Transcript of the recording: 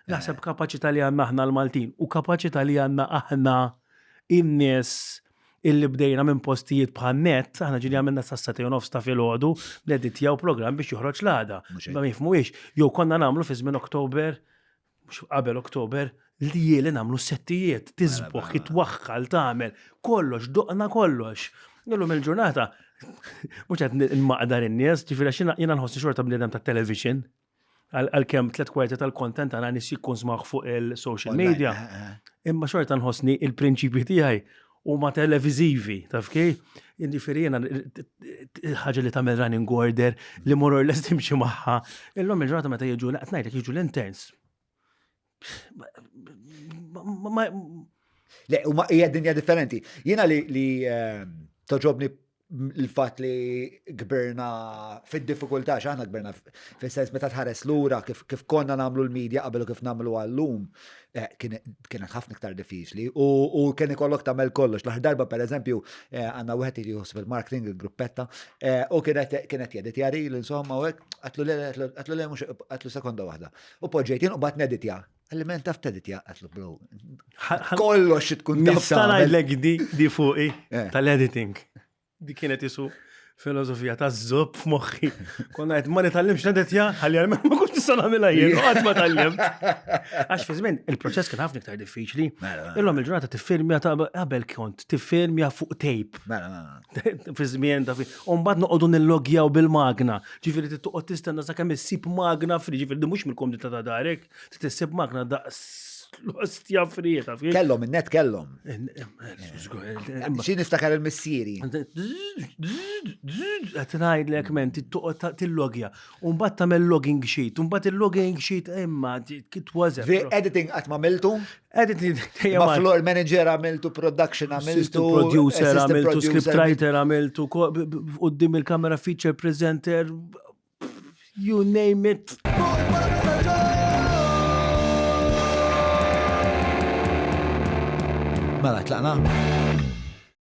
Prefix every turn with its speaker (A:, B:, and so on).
A: Naħseb kapaċità li għandna aħna l-Maltin u kapaċità li għandna aħna in-nies illi bdejna minn postijiet bħal net, aħna ġili għamilna sa' sati u nofs ta' filgħodu, neditjaw programm biex joħroġ l-għada. Ma jifmu ix, jew konna nagħmlu fi żmien Oktober, mhux qabel Oktober, li jieli nagħmlu settijiet, tisbuħ, jitwaħħal, tagħmel, kollox, doqna kollox. Illum il-ġurnata, mhux qed nmaqdar in-nies, ġifieri xina jiena nħossi xorta bniedem tat-television. għal-kem tlet kwarti tal-kontent għana nis jikkonsumaħ fuq il-social media. Eh, eh. Imma xorta nħosni il-prinċipji tiegħi u ma televizivi, taf kej? Indifiri jena ħagġa li tamel running order li moror l timxi maħħa. Illum il-ġurnata meta jiġu, naqtnajtek jiġu l-interns.
B: Le, u ma hija dinja differenti. Jiena li, li ehm, toġobni l-fat li gberna fil-difikulta, xaħna gberna fil-sens meta tħares l-ura kif, kif konna namlu l-medja qabel u kif namlu għallum, eh, kienet ħafna iktar diffiċli u, u kien ikollok tamel kollox. L-aħħar darba per eżempju eh, għanna wieħed li juħsib il-marketing, il-gruppetta, eh, u kienet kienet jedit jari l-insomma u għatlu le, għatlu le, għatlu sekonda waħda. U poġġejt jien u bat neditja. Għalli men taf teditja għatlu bro. Kollox xi tkun taf. Nista' ngħidlek di
A: di fuqi eh. tal-editing. Di kienet isu filosofija ta' zob f'moħħi. Konna għed ma nitallimx nedetja, għalli għalmen ma kunx nista' nagħmilha jien, għad ma tallim. Għax fi żmien il-proċess kien ħafna iktar diffiċli. Mela, mela. Illum il-ġurnata tiffilmja ta' qabel kont tiffilmja fuq tape. Mela, fi żmien ta' fi. U mbagħad noqogħdu nillogjaw bil-magna. Ġifieri trid toqgħod tistenna sakemm issib magna fri, ġifieri di mhux mill-komdità ta' darek, trid issib magna daqs l-ostja fri ta' fi. Kellhom in-net kellhom.
B: Xi niftakar il-missieri.
A: Qed ngħidlek men trid toqgħod tillogja. U mbagħad tagħmel logging sheet, u mbagħad il-logging sheet imma it was Editing qatt ma
B: miltu?
A: Ma floor
B: manager għamiltu production għamiltu. Producer għamiltu,
A: scriptwriter għamiltu, għoddim il-kamera feature presenter, you name it.
B: Mela, tlaqna?